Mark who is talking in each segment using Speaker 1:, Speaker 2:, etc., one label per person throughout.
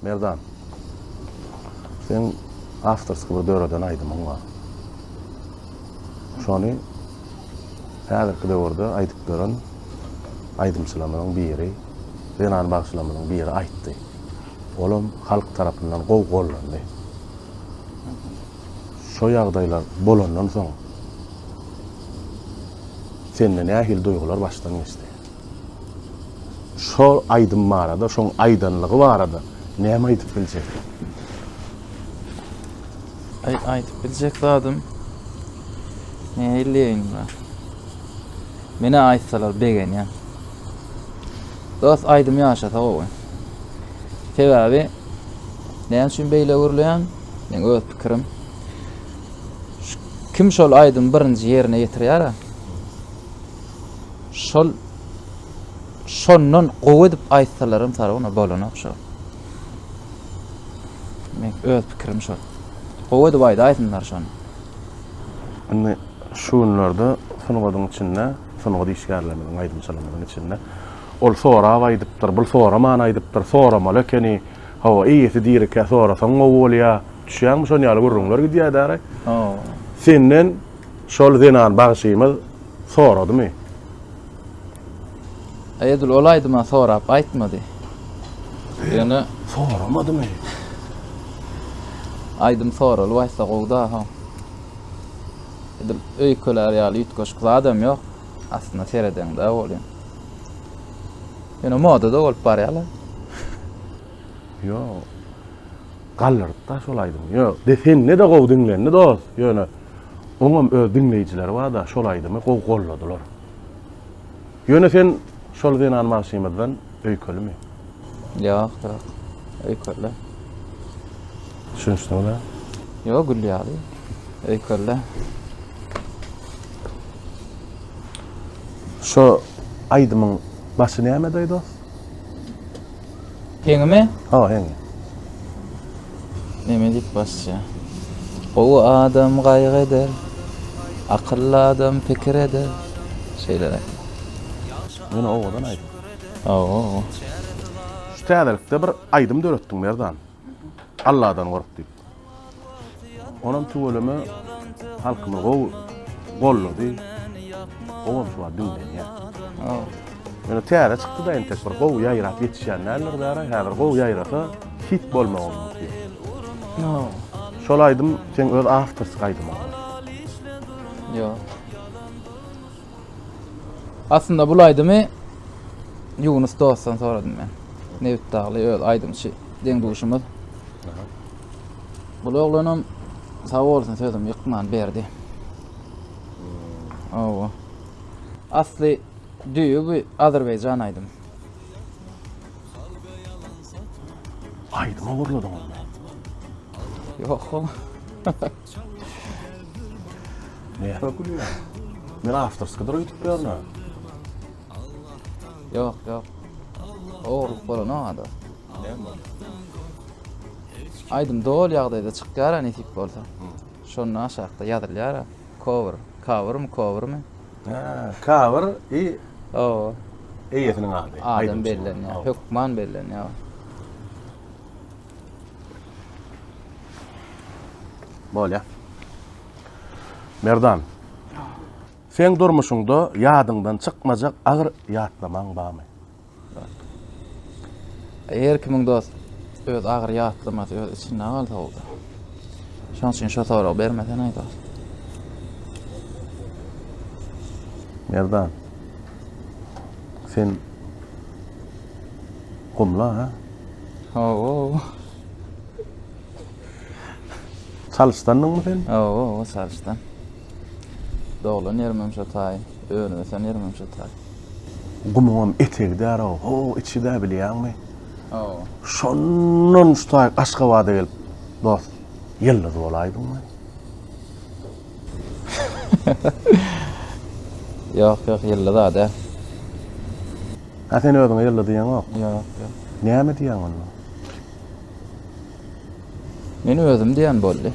Speaker 1: Merdan. Sen awtorski bir döreden aýdymyň bar. Şony häzirki döwürde aýdyp duran aýdymçylarymyzyň biri, zenan bagşylarymyzyň biri aýtdy. Olam halk tarapyndan gowy gollandy. Şo ýagdaýlar bolandan soň sende nähili duýgular başdan geçdi? Şol aýdym barada, şoň aýdanlygy barada näme aýdyp biljek? Aý, aýdyp biljek zadym. Näleýin ba? Menä aýtsalar begenýän. Dost aýdym ýaşasa gowy. Sebäbi näme üçin beýle gürleýän? Men öz pikirim. Kim şol aýdym birinji ýerine ýetirýär? Şol şondan gowy edip aýtsalaram Sarona bolanok şo. Men öz pikirim şo. Gowy edip aýdaýsynlar şony. Indi şu günlerde sungatyň içinde, sungat işgärlerimiziň, aýdymçylarymyzyň içinde ol sorap aýdypdyr, bul soraman aýdypdyr, soramaly ekeni, hawa, eýesi dirikä sorasaň gowy bolýar, düşýäňmi, şon ýaly gürrüňler gidýär däri. Senden Şol zenan bagşymyz soradymy? Aý edil ol aýdyma sorap aýtmady. Ýöne soramadymy? Aýdym soralyp aýtsa gowda ha. Edil öýkelär ýaly üýtgeşik zadam ýok. Aslynda seredeňde bolýar. Ýöne moda da bolup barýarlar. Ýok. Galdyrypda şol aýdymy. Ýo, de sende-de gowy diňlendi dos, ýöne oňam öz diňleýjileri barda şol aýdymy gowy golladylar. Ýöne sen şol zenan bagşymyzdan öýkelimi? Ýok, ýok. Öýkelde. Düşünişdiňiz ha? Ýo, gül ýaly. Öýkelde. Şo aýdymyň başy nämedi dos? Heňimi? Ha, heňi. Neme diýip basýa? Gowy adam gaýgy eder. Akylly adam pikir eder. Şeýle. Ýöne owadan aýdym. Hawa. Şu täzelikde bir aýdym döretdiň Merdan. Alladan gork diýip. Onam tüweleme halkymy gowy gollady. Gowam şuwagt diňlenýär. Ýöne täze çykdyda entek bir gowy ýaýrap ýetişýän däldir bärä häzir gowy ýaýrasa hit bolmagy mumkin. Şol aýdym seň öz awtorsk aýdymyňmy? Ýok. Aslynda bul aýdymy Ýunus dostdan soradym men. Nebit dagly öz aýdymçy deň duşumyz. Bul oglanam sag bolsun sözüm ýykman berdi. Hmm. Owa. Asly düýe bu Azerbaýjan aýdym. Aýdymy gurladyňyzmy? Ýok. Näme gülýäň? Men awtorskidir öýdüp ýörne. Ýok, ýok. Ogurlyk bolana ada. Näme? Aýdym dol ýagdaýda çykýar nesip bolsa. Şonda aşakda ýazylýar. Cover, covermy, covermy? Ha, cover i O, eýesiniň ady. adam bellenýär, hökman bellenýär. Bolýa. Merdan. Sen durmuşyňda ýadyňdan çykmajak agyr ýatlamaň barmy? Eger kimin dost öz agyr ýatlamasy öz içinde galsa bolsa. Şoň üçin şo sorag bermesen aýda. Merdan. Sen gumla ha? Owo. Çalyşdandyňmy sen? Owo, owo, Çalyşdan. Doglan ýerim hem şo taý, önüp ösen ýerim hem şo taý. Gumuňam etegi därow, ho içi-dä bilýäňmi? Owo. Şondan şu taý Aşgabada gelip, dost, ýyldyz bolaýdyňmy? Yok yok yıllı da de. Ha sen özüňe yıllı diýen yok. Yok yok. Näme diýen onda? Men özüm diýen boldy.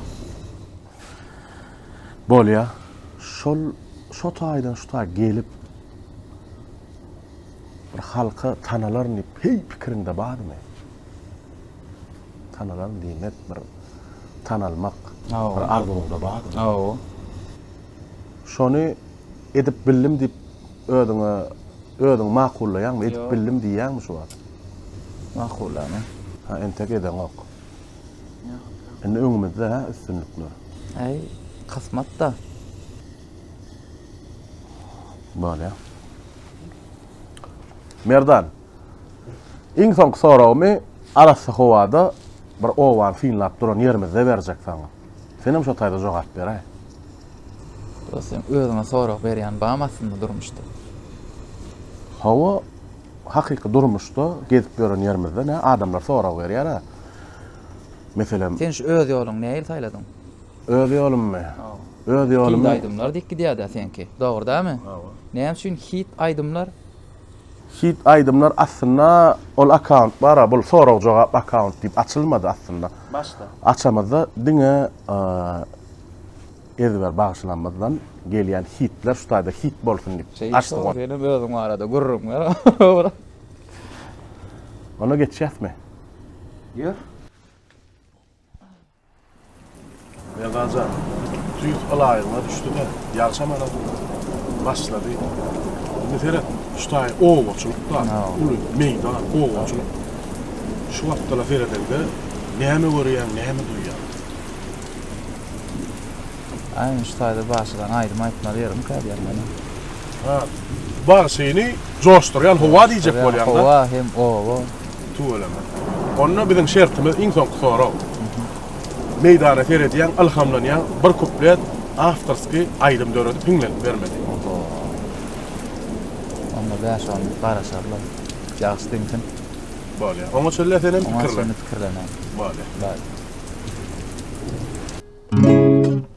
Speaker 1: Bolýa. Şol şu taýdan şu taý gelip bir halka tanalaryn diýip heý pikiriňde barmy? Tanalan diýmek bir tanalmak bir arzuwyňda barmy? Hawa. Şony edip bildim diýip özüňe özüňi makullaýaňmy? Edip bildim diýýäňmi şu wagt? Makullaýan. Ha entek edeňok. Indi öňümizde hä üstünlikler. Äý, kysmatda. Bolýar. Merdan. Iň soňky soragymy arassa howada bir obany synlap duran ýerimizde berjek saňa. Senem şo taýda jogap beräý. Dost sen özüňe sorag berýän bam aslynda durmuşda. Hawa hakyky durmuşda gezip ýören ýerimizde nä adamlar sorag berýärä. Meselem. Sen şu öz ýoluňy nähili saýladyň? Öz ýolummy? Hawa. Öz ýolumy. Hit aýdymlar dik gidýär-dä seňki. Dogry dämi? Hawa. Näme üçin hit aýdymlar? Hit aýdymlar aslynda ol akkaunt bara bul sorag jogap akkaunt diýip açylmady aslynda. Başda. Açamyzda diňe ezber bagşylarymyzdan gelýän hitler şu taýda hit bolsun diýip şey, açdyk. Şeýle senem özüň arada gürrüň ber. Ona geçýäsmi? Ýör. Merdanjan, tüýs ylaýygyna düşdi-de, ýagşamana başlady. Indi seret, şu taý obaçylykda, uly meýdan, obaçylyk. Şu wagtda-la seredeňde, näme görýäň, näme duýýaň? Aý, indi şu taýda bagşydan aýdym aýtmaly ýerim kälýär meniň. Ha, bagşyny joşdurýan howa diýjek bolýaň-da? Howa hem oba. Tüweleme. Onda biziň şertimiz iň soňky sorag. Meýdana seredýäň, ylhamlanýaň, bir kuplet awtorski aýdym döredip hiňlenip bermeli. Oho. Onda bäş on garaşarlar. Ýagşy diňsin. Bolýar. Oňa çenli senem pikirlen. Oňa çenli pikirlenäýin. Bolýar. Baý.